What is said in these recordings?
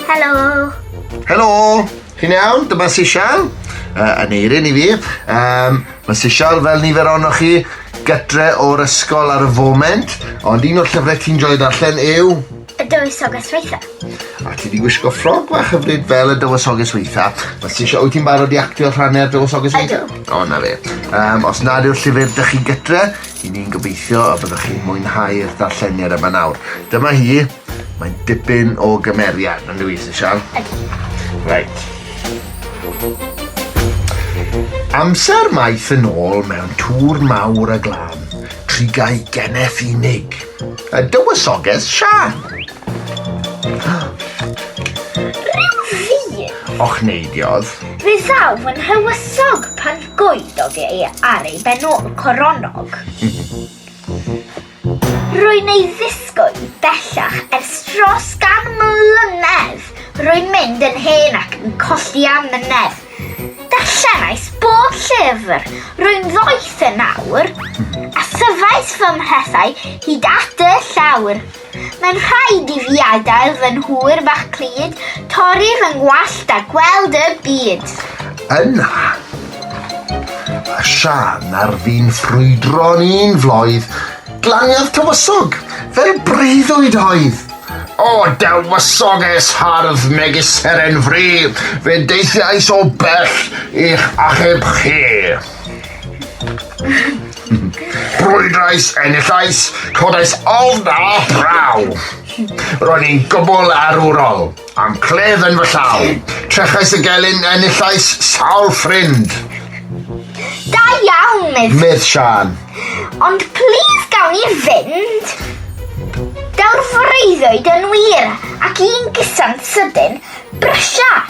Helo! Helo! Chi'n iawn? Dyma Sisial. Uh, yn eirin i fi. Um, mae Sisial fel nifer ohonoch chi gytre o'r ysgol ar y foment, ond un o'r llyfrau ti'n joio darllen yw... Y dywysoges weitha. A ti wedi gwisgo ffrog fach hyfryd fel y dywysoges weitha. Mae Sisial, wyt ti'n barod i actio rhannau'r dywysoges weitha? Ydw. O, na fe. Um, os nad yw'r llyfr dych chi gytre, Ŷn ni'n gobeithio y byddwch chi'n mwynhau'r darlleniad yma nawr. Dyma hi. Mae'n dipyn o gymeriad, yn dwi, Sir Sian? Ydy. Reit. Amser maith yn ôl mewn tŵr mawr a glân, trigau geneth unig. Y dywysoges Sian. Rhyw fi! Och neidiodd. Fe ddaw fy nhywysog pan Goeddog ei ar ei benôl coronnog. Rwy'n ei ddisgwyl bellach ers dros gan mlynedd. Rwy'n mynd yn hen ac yn colli amynedd. Darllenais bob llyfr. Rwy'n ddoeth yn awr. A thyfais fy mhrethau hyd at y llawr. Mae'n rhaid i fi adael fy nhŵr fach pryd, torri fy ngwallt a gweld y byd. Yna, a Siân ar fin ffrwydro'n un floedd, glaniodd tywysog, fel breuddwyd oedd. O, dywysoges hardd megis seren fri, fe deithiais o bell i'ch achub chi. Brwydrais, enillais, codais ofn a phraw. Ro'n i'n gwbl arwrol, am clef yn fy llaw. Trechais y gelyn, enillais sawl ffrind. Da iawn, medd. Medd Sian. Ond plîs gawn ni fynd. Daw'r freuddwyd yn wir, ac un gysan sydyn, brysia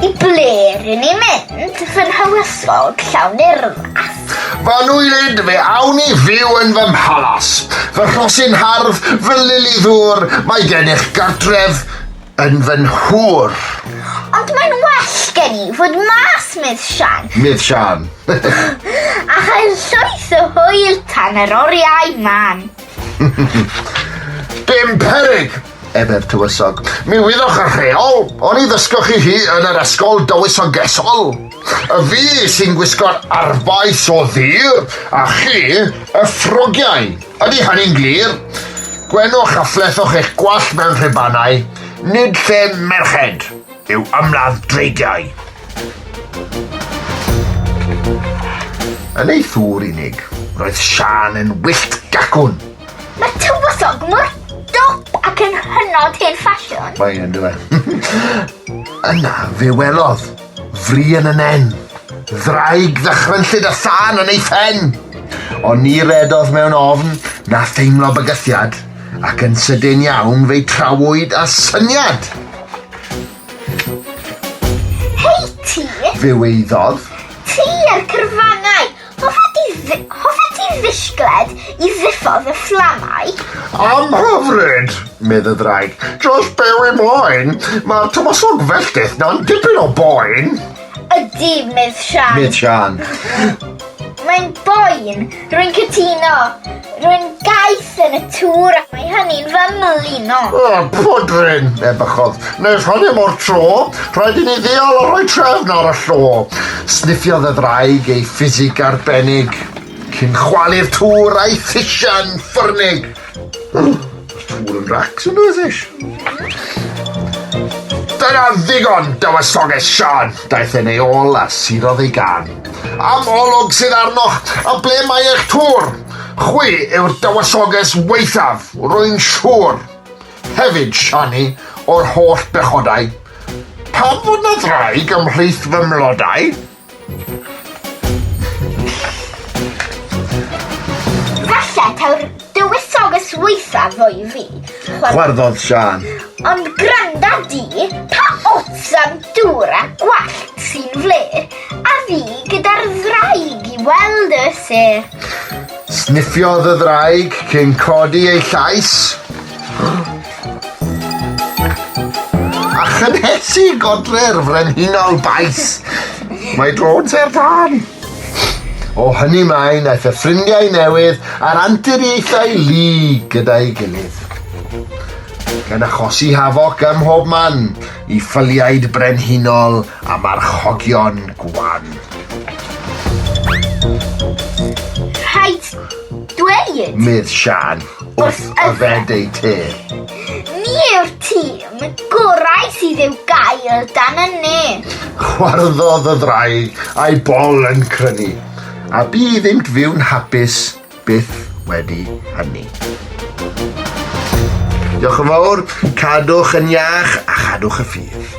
I ble rŷn ni'n mynd, fy nhywysog llawn urddach? Fy nŵylid, fe awn i fyw yn fy mhalas. Fy rhosyn hardd, fy lili ddŵr, mae gennych gartref yn fy nhŵr. Ond mae'n well gen i fod mas, medd Siân. Medd Siân. a chael llwyth o hwyl tan yr oriau man. Dim peryg, Eber Tywysog. Mi wyddwch y rheol! Oni ddysgoch chi hi yn yr ysgol dywysogesol? Y fi sy'n gwisgo'r arfbais o ddur, a chi, y ffrogiau. Ydy hynny'n glir? Gwenwch a phlethoch eich gwallt mewn rhubanau, nid lle merched yw ymladd dreigiau. Yn ei thŵr unig, roedd Siân yn wyllt gacwn. Mae tywysog mor dop ac yn hynod hen ffasiwn. Mae yn dweud. Yna fe welodd, fri yn y nen, ddraig ddychrynllyd a sân yn ei phen. Ond ni redodd mewn ofn na theimlo bygythiad, ac yn sydyn iawn fe'i trawyd a syniad. Hei ti! Fe weiddodd. Ti a'r cyrfanau, Hoffet ti fi- hoffet ti fisgled i ddiffodd y fflamau? Am hyfryd, medd y ddraig. Just byw i moyn. Mae'r tywysog felltith na'n dipyn o boen. Ydy, medd Sian. Medd Sian. Mae'n boen, rwy'n cytuno. Rwy'n gaeth yn y tŵr ac mae hynny'n fy mlino. O, pwdrin, ebychodd. Nes hynny mor tro, rhaid i ni ddeall a rhoi trefn ar y llo. Sniffiodd y ddraig ei ffisig arbennig, cyn chwalu'r tŵr a'i thisiau'n ffyrnig. Dŵr yn racs yn ydych. Dyna ddigon, dywysoges Sian. Daeth yn ei ôl a sirodd ei gan. Am olwg sydd arnoch, a ble mae eich tŵr? Chwi yw'r dywysoges weithaf, rwy'n siŵr. Hefyd, Siani, o'r holl bechodau. Pam fod na ddraig ymhlith fy mlodau? Falle taw'r dywysog y swytha fo i fi. Chwarddodd Sian. Ond granda di, pa ots am dŵr a gwallt sy'n fler, a fi gyda'r ddraig i weld y ser. Sniffiodd y ddraig cyn codi ei llais. A chynhesu godre'r frenhinol baes. Mae drôn ser tân. O hynny mae'n aeth y ffrindiau newydd a'r anturiaethau lu gyda'i gilydd. Gan achosi hafoc ym mhob man i ffyliaid brenhinol a marchogion gwan. Rhaid dweud! Medd Sian. wrth yfed eu te. Ni yw'r tîm gorau sydd i'w gael dan y net. Chwarddodd y ddraig a'i bol yn crynu, a bu iddynt fyw'n hapus byth wedi hynny. Diolch yn fawr, cadwch yn iach a chadwch y ffydd.